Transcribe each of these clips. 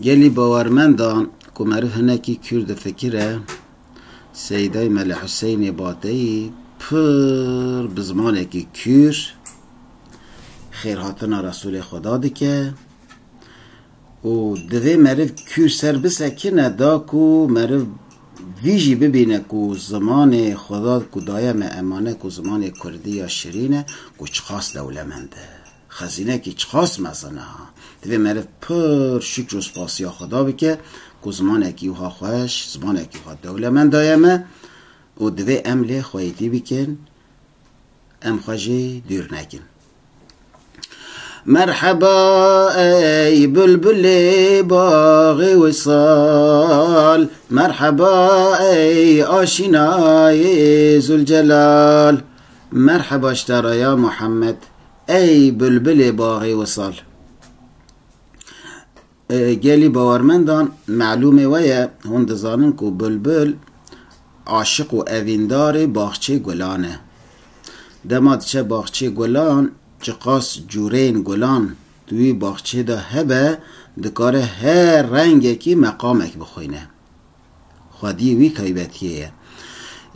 Gelî bawermenda ku meriv hinekî kûr difikire, Seyîdayî Mele Huseynê Bateyî pir bi zimanekî kûr xêrhatina Resûlê Xweda dike û divê meriv kûr ser bisekine da ku meriv vî jî bibîne ku zimanê Xweda ku daye me emane ku zimanê Kurdî ya şirîn e ku çiqas dewlemend e. Xezînekî çiqas mezin e ha. Divê meriv pir şukr û spasiya Xweda bike ku zimanekî wiha xweş, zimanekî wiha dewlemend daye me û divê em lê xweyîtî bikin, em xwe jî dûr nekin. Merheba ey bulbulê baxê wisal, merheba ey aşînayê Zûlcelal, merheba ji te re ya Muhammed. Ey bulbulê baxê wisal. Gelî bawermendan melûmê we ye, hûn dizanin ku bulbul aşiq û evîndarê baxçê gulan e. Dema diçe baxçê gulan, çiqas cûreyên gulan di wî baxçê de hebe, dikare her rengekî meqamek bixwîne. xwediyê wî taybetiyê ye.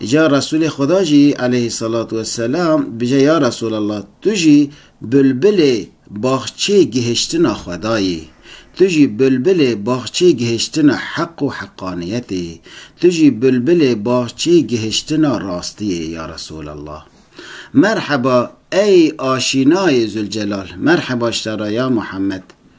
Îcar Resûlê Xweda jî eleyhî selatû weselam bije ya Resûlallah tu jî bulbilê baxçê gihiştina Xweda yî, tu jî bulbilê baxçê gihiştina heq û heqaniyetê yî, tu jî bulbilê baxçê gihiştina rastiyê yî ya Resûlallah. Merheba ey aşînayê Zûlcelal, merheba ji te re ya Muhammed.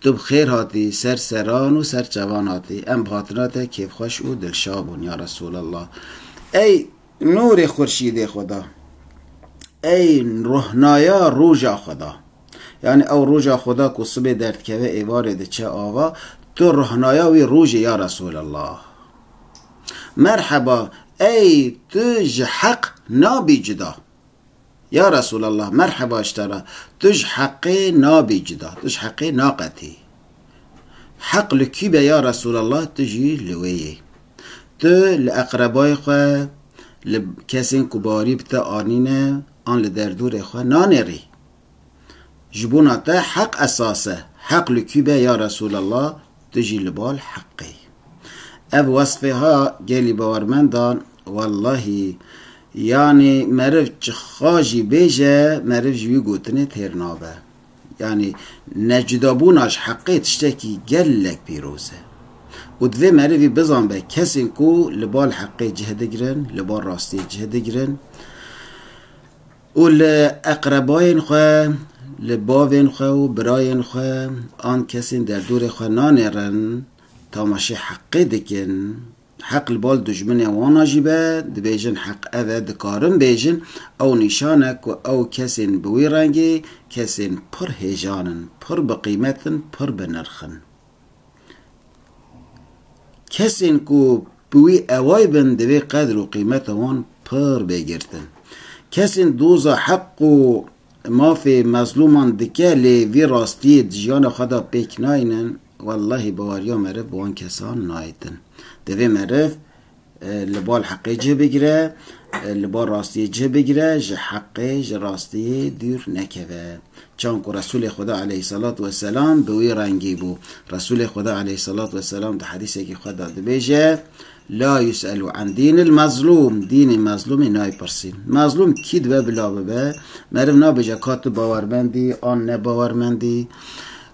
Tu bi xêr hatî ser seran û ser çavan hatî. Em bi hatina te kêfxweş û dilşa bûn ya Resûlallah. Ey nûrê xurşîdê Xweda! Ey rohnaya roja Xweda! Yanî ew roja Xweda ku sibê derdikeve êvarê diçe ava, tu rohnaya wî rojî ya Resûlallah! Merheba! Ey tu ji heq nabî cuda! Ya Resûlallah, merheba ji te re, tu ji Heqê nabî cuda, tu ji Heqê naqetî. Heq li kî be ya Resûlallah, tu jî li wê yî. Tu li eqrebayê xwe, li kesên ku barî bi te anîne an li derdorê xwe nanêrî. Ji bona te heq esas e, heq li kî be ya Resûlallah, tu jî li bal heqê. Ev wesfê ha gelî bawermendan, wellahî, yanî meriv çixa jî bêje, meriv ji wî gotinê têr nabe. Yanî necudabûna ji heqê tiştekî gelek pîroz e. Û divê merivî bizanbe kesên ku li bal heqê cih digirin, li bal rastiyê cih digirin, Û li eqrebayên xwe, li bavên xwe û birayên xwe an kesên derdorê xwe nanêrin, tamaşê heqê dikin, heq li bal dijminên wana jî be, dibêjin heq ev e, dikarin bêjin ew nîşan e ku ew kesên bi wî rengê, kesên pir hêjan in, pir bi qîmet in, pir bi nirx in. Kesên ku bi wî eway bin divê qedr û qîmeta wan pir bê girtin. Kesên doza heq û mafê mezlûman dike lê vî rastiyê di jiyana xwe de pêk nayînin, wellahî baweriya meriv bi wan kesan nayêtin. Divê meriv Li bal heqê cih bigire, li bal rastiyê cih bigire, ji heqê, ji rastiyê dûr nekeve. Çawan ku Resûlê Xweda aleyhîssalatu wesselam bi wî rengî bû. Resûlê Xweda aleyhîssalatu wesselam di hedîsekî xwe de dibêje, La yus'elû an dînil mezlûm, dînê mezlûmê naypirsîn. Mezlûm kî dibe bila bibe, meriv nabêje ka tu bawermend î an ne bawermend î.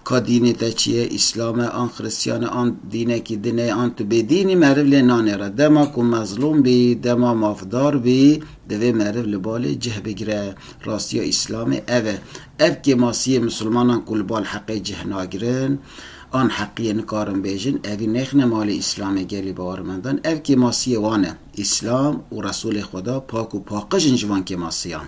Ka dînê te çi ye, Îslam e an Xristiyan e an dînekî din e an tu bêdîn î meriv lê nane re. Dema ku mezlûm bî, dema mafdar bî divê meriv li balê cih bigire. Rastiya Îslamê ev e. Ev kêmasiyê misilmanan ku li bal heqê cih nagirin an heqiyê nikarin bêjin evî nêxine malê Îslamê gelê bawermendan ev kêmasiyê wan e. Îslam û Resûlê Xweda pak û paqij in ji van kêmasiyan.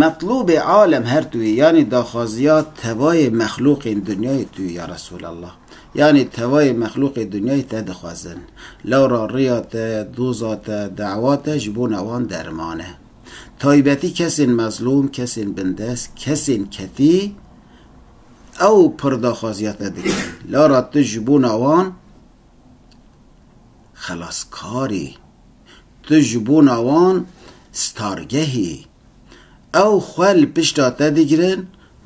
Metlûbê alem her tu yî, yanî daxwaziya tevayê mexlûqên dinyayê tu yî ya Resûlallah. Yanî tevayê mexlûqê dinyayê te dixwezin. Lewra riya te, doza te, dewa te ji bona wan derman e. Taybetî kesên mezlûm, kesên bindest, kesên ketî ew pir daxwaziya te dikin. Lewra tu ji bona wan xelaskar î. Tu ji bona wan stargeh î. Ew xwe li pişta te digirin,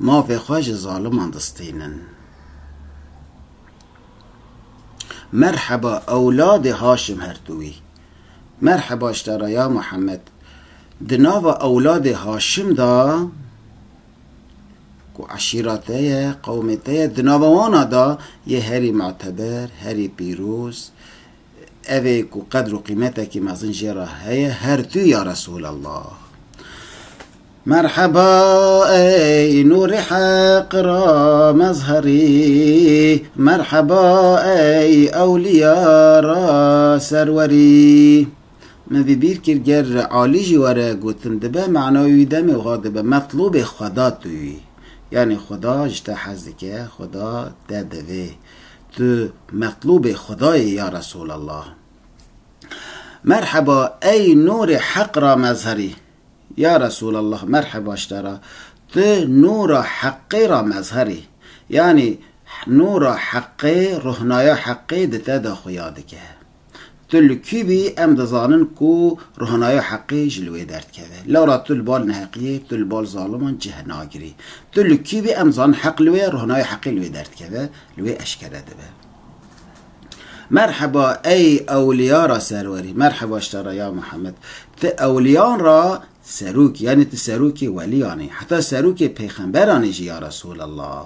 mafê xwe ji zaliman distînin. Merheba ewladê Haşim Hertûwî. Merheba ji te re ya Mihemed. Di nava ewladê Haşim de ku eşîra te ye, qewmê te ye, di nava wana de yê herî muteber, herî pîroz, Evê ku qedr û qîmetekî mezin jê re heye her tu ya Resûlallah. Merheba ey nûrê heq ra mezherî, merheba ey ewlîya ra serwerî. Min vî bîr kir ger alî jî were gotin dibe manayê wî demê wiha dibe metlûbê xweda tu yî. Yanî xweda ji te hez dike, xweda te divê. Tu metlûbê Xweda yî ya Resûlallah. Merheba ey nûrê heq ra mezherî. Ya Resûlallah merheba ji te re. Tu nûra heqê ra mezher î. Yanî nûra heqê, rohnaya heqê di te de xuya dike. Tu li kî bî em dizanin ku rohanaya heqê ji li wê derdikeve. Lewra tu li bal neheqiyê, tu li bal zaliman cih nagirî. Tu li kî bî em dizanin heq li wê ye, rohanaya heqê li wê derdikeve, li wê eşkere dibe. Merheba ey ewliya ra serwerî. Merheba ji te re ya Mihemed. Ti ewliyan ra serok yanî tu serokê weliyan î. Heta serokê peyxemberan î jî ya Resûlallah.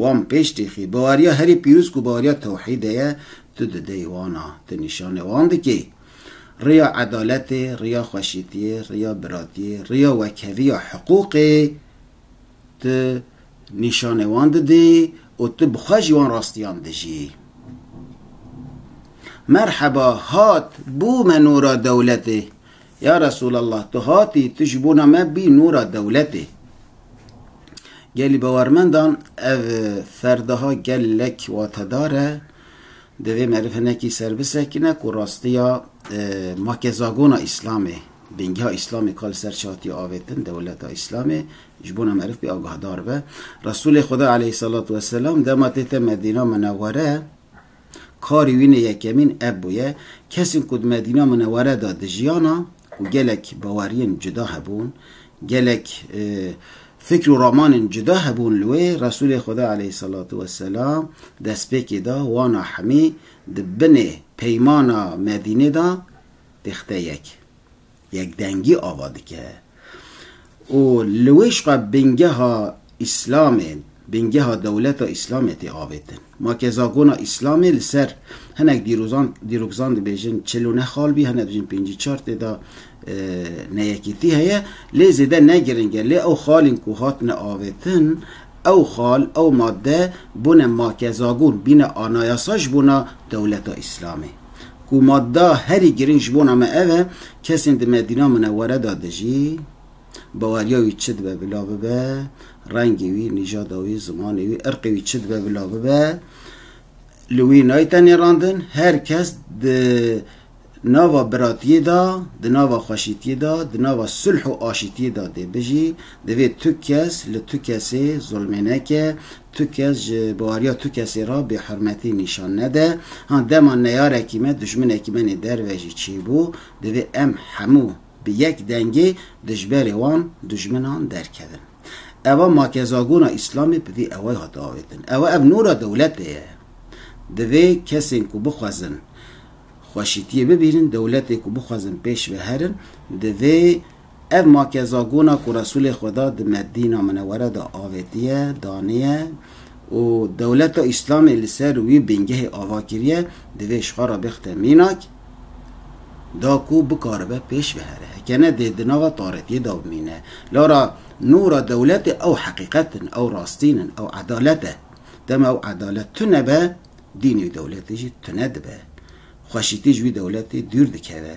Wan pêş têxî. Baweriya herî pîroz ku baweriya tewhîdê ye, tu di dêy wan a, tu nîşanê wan dikî. Riya edaletê, riya xweşîtiyê, riya biratiyê, riya wekheviya hiqûqê tu nîşanê wan didî û tu bi xwe jî wan rastiyan dijî. Merheba, hat, bû me nûra dewletê. Ya Resûlallah! Tu hatî, tu ji bona me bî nûra dewletê. Gelî bawermendan ev ferdaha gelek watedar e. Divê meriv hinekî ser bisekine ku rastiya makezagona Îslamê, bingîha Îslamê ka li ser çi hatiye avêtin, dewleta Îslamê, ji bona meriv pê agahdar be. Resûlê Xweda aleyhî selatû weselam dema tête Medîna Minewwere, Karî wî ne yekemîn ev bûye, kesên ku di Medîna Minewere de dijiyan a, ku gelek baweriyên cuda hebûn, gelek fikr û ramanên cuda hebûn li wê, Resûlê Xweda aleyhîsalatu weselam destpêkê da wana hemî di binê peymana Medînê de têxite yek. Yekdengî ava dike û li wê jixwe bingeha Îslamê, bingeha dewleta Îslamê tê avêtin. Ma ke zagona Îslamê li ser hinek dîrozan, dîrokzan dibêjin çil û neh xal bî, hinek dibêjin pêncî çar tê de neyekîtî heye. Lê zêde ne giring e. Lê ew xalên ku hatine avêtin, ew xal, ew madde bûne ma ke zagon, bîne anayasa ji bona dewleta Îslamê. ku madda herî girîng ji bona me ev e, kesên di Medîna Minewere de dijî, baweriya wî çi dibe bila bibe, rengê wî, nîjada wî, zimanê wî, irqê wî çi dibe bila bibe, li wî nayte nêrandin, her kes di nava biratiyê de, di nava xweşîtiyê de, di nava sulh û aşîtiyê de dê bijî, divê tu kes li tu kesê zulmê neke, Tu kes ji baweriya tu kesê re bêhurmetî nîşan nede. Ha dema neyarekî me, dijminekî me nê derve jî çêbû, divê em hemû bi yek dengê di ji berê wan dijminan derkevin. Eva makezagona Îslamê bi vî ewayê hat avêtin. Ewa ev nûra dewletê ye. Divê kesên ku bixwezin xweşîtiyê bibînin, dewletê ku bixwezin pêş ve herin, divê. Ev makezagona ku Resûlê Xweda di Medîna Minewere de avêtiye, daniye û dewleta Îslamê li ser wî bingehê ava kiriye, divê ji xwe re bixite mînak da ku bikaribe pêş bihere. Heke ne dê di nava taretiyê de bimîne. Lara nûra dewletê ew heqîqet in, ew rastîn in, ew edalet e. Dema ew edalet tune be, dînê wî dewletê jî tune dibe. Xweşîtî ji wî dewletê dûr dikeve.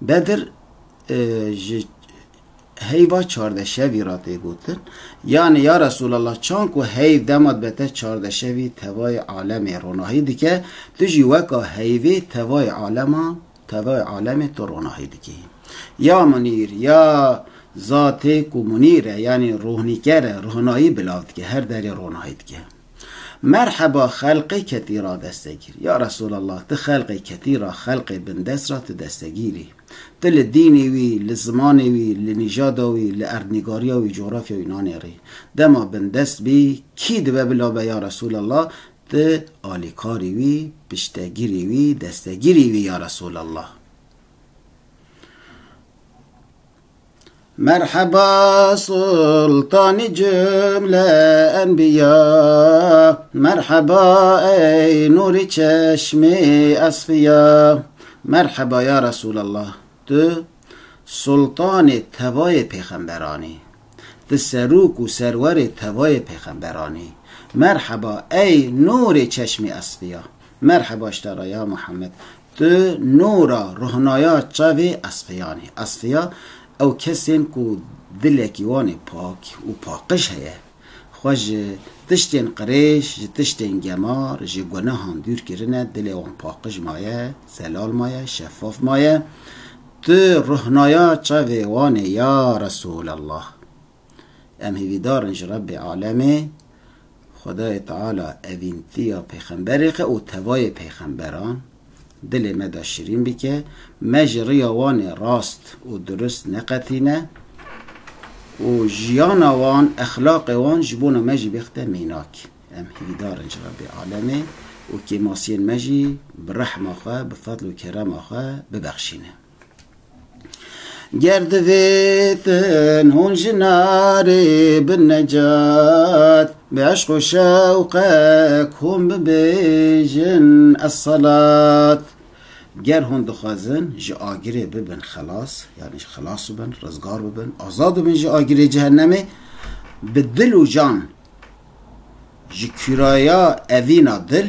Bedir ji heyva çardeşevî re tê gotin, yanî ya Resûlallah çan ku heyv dema dibe te çardeşevî tevayê alemê ronahî dike, tu jî weka heyvê tevayê alema tevayê alemê tu ronahî dikî. Ya Munîr, ya zatê ku Munîr e yanî rohnîker e, ronahî bila dike, her derê ronahî dike. Merheba xelqê ketî ra destegîr. Ya Resûlallah tu xelqê ketî ra, xelqê bindest ra tu destegîr î. Tu li dînê wî, li zimanê wî, li nîjada wî, li erdnîgariya wî, cografya wî nanêrî. Dema bindest bî, kî dibe bila be ya Resûlallah, tu alîkarî wî, piştegirî wî, destegirî wî ya Resûlallah. Merheba sultanî cumle enbiya Merheba ey nûrî çeşmî esfiya Merheba ya Resûlallah tu sultanê tevayê pêxemberan î tu serok û serwerê tevayê pêxemberan î Merheba ey nûrê çeşmî esfiya Merheba ştara ya Muhammed Di nora rohnaya çavê Esfeyanê, Esfeya ew kesên ku dilekî wan ê pak û paqij heye, xwe ji tiştên qirêj, ji tiştên gemar, ji gunehan dûr kirine, dilê wan paqij maye, zelal maye, şeffaf maye. Tu rohnaya çavê wan î ya Resûlallah. Em hêvîdar in ji Rebbê Alemê, Xwedayê Teala evîntiya pêxemberê xwe û tevayê pêxemberan dilê me de şirîn bike, me ji riya wan ê rast û durist neqetîne û jiyana wan, exlaqê wan ji bona me jî bixite mînak. Em hêvîdar in ji Rebbê Alemê û kêmasiyên me jî bi rehma xwe, bi fadl û kerema xwe bibexşîne. Ger divêtin hûn ji narê bin necat Bi eşq û şewqek hûn bibêjin esselat Ger hûn dixwazin ji agirê bibin xelas yanî xelas bibin rizgar bibin azad bibin ji agirê cehennemê bi dil û can ji kûraya evîna dil